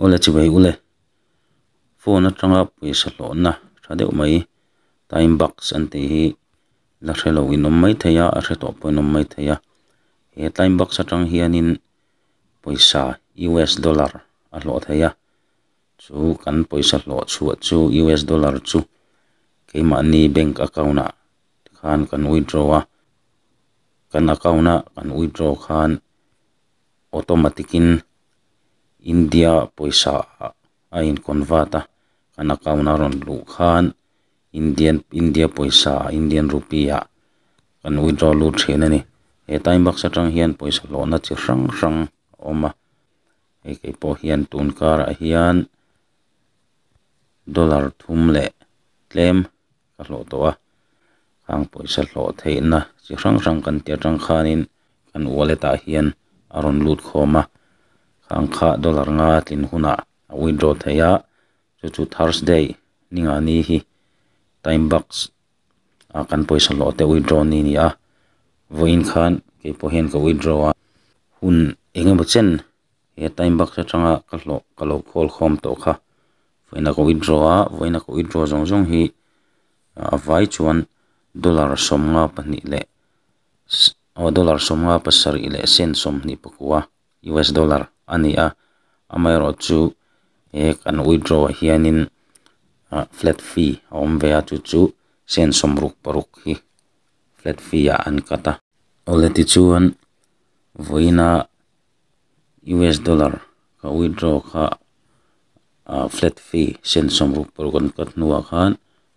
Ule chivei ule, phone atanga pawisa hlawhna tha deuh mai time box an tih hi la hre lo inawm mai thei a, a hre tawh pawh inawm mai thei a, he time box atang hianin pawisa US dollar a hlawh thei a, chu kan pawisa hlawh chhuah chu US dollar chu keimahni bank account ah khan kan withdraw a, kan account a kan withdraw khan-- automatic in India pawisa ah a in convert a, kan account a rawn luh khan Indian India pawisa ah Indian rupee ah kan withdraw lut thin a ni. He time box atang hian pawisa hlawhna chi hrang hrang a awm a, hei kei pawh hian tun karah hian dollar thum leh tlem. ka hlawh tawh a, khang pawisa hlawh theihna chi hrang hrang kan ti atang khanin kan wallet ah hian a rawn lut khawm a, khang kha dollar nga tlin hunah a withdraw theih a, chu chu Thursday ni ngah ni hi Time Bucks ah kan pawisa hlawh te withdraw ni a ni a, vawiin khan kei pawh hian ka withdraw a, hun eng emaw chen he time baksa atanga ka hlawh ka lo call khawm tawh kha vawiin a ko withdraw a vawiin a ko withdraw zawng zawng hi a vai chuan dollar sawmnga pahnih leh aw dollar sawmnga pasarih leh cent sawmhnih pakua US dollar a ni a amaherawhchu chu he kan withdraw ah hianin ah flat fee a awm ve a chu chu cent sawm ruk paruk hi flat fee ah an cut a awle tichuan vawiina-- US dollar ka withdraw kha ah flat fee cent sawmruk paruk an cut hnuah khan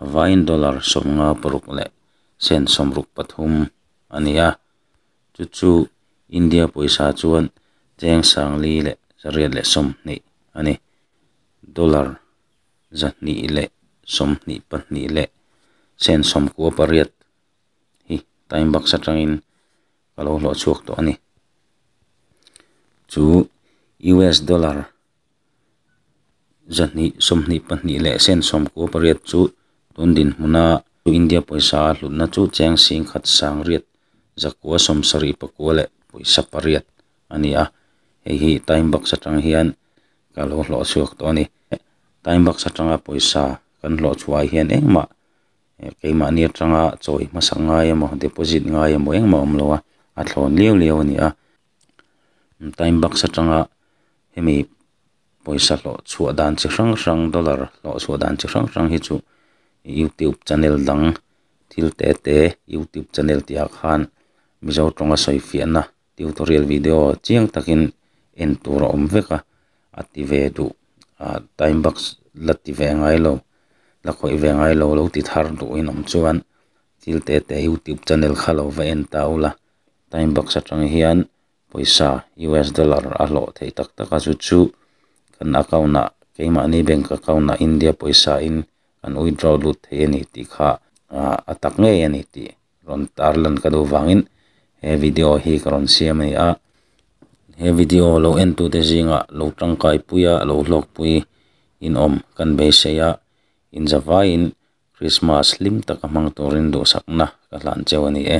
a vaiin dollar sawmnga paruk leh cent sawmruk pathum a ni a chu chu India pawisa chuan cheng sangli leh chariat leh sawmhnih a ni dollar zahnih leh sawmhnih pahnih leh cent sawmkua pariat hi time baksa tangin-- ka lo hlawh chhuak tawh a ni. Chu US dollar zahnih sawmhnih pahnih leh cent sawm kawl pariat chu tun dinhmuna India pawisa a hlutna chu cheng sing khat sang riat zakua sawm sarih pakua leh pawisa pariat a ni a, hei hi Time Box atang hian ka lo hlawh chhuak tawh a ni. Time Box atanga pawisa kan hlawh chhuah ah hian engmah keimahni atanga chawi hmasak ngai emaw deposit ngai emaw engmah a awm lo a a thlawn liau liau a ni a time box atanga hemi pawisa hlawh chhuah dan chi hrang hrang dollar hlawh chhuah dan chi hrang hrang hi chu youtube channel dang thil tete youtube channel tihah khan mizo tawnga sawi fiahna-- Tutorial video chiang takin en tur a awm vek a, a ti ve duh ah time box la ti ve ngai lo, la khawih ve ngai lo lo ti thar duhin awm chuan thil teh teh YouTube channel kha lo va en ta ula. Time box atang hian pawisa US dollar a hlawh theih tak tak a chu chu kan account ah keimahni bank account ah India pawisa in kan withdraw lut theih a ni tih kha a tak ngei a ni tih rawn tar lan ka duh vangin he video hi ka rawn siam a ni a he video lo en tute zingah lo tangkai pui a lo hlawk pui in awm kan beisei a inza vaiin Krismas hlim taka hmang turin duhsakna ka hlan cheu a ni e.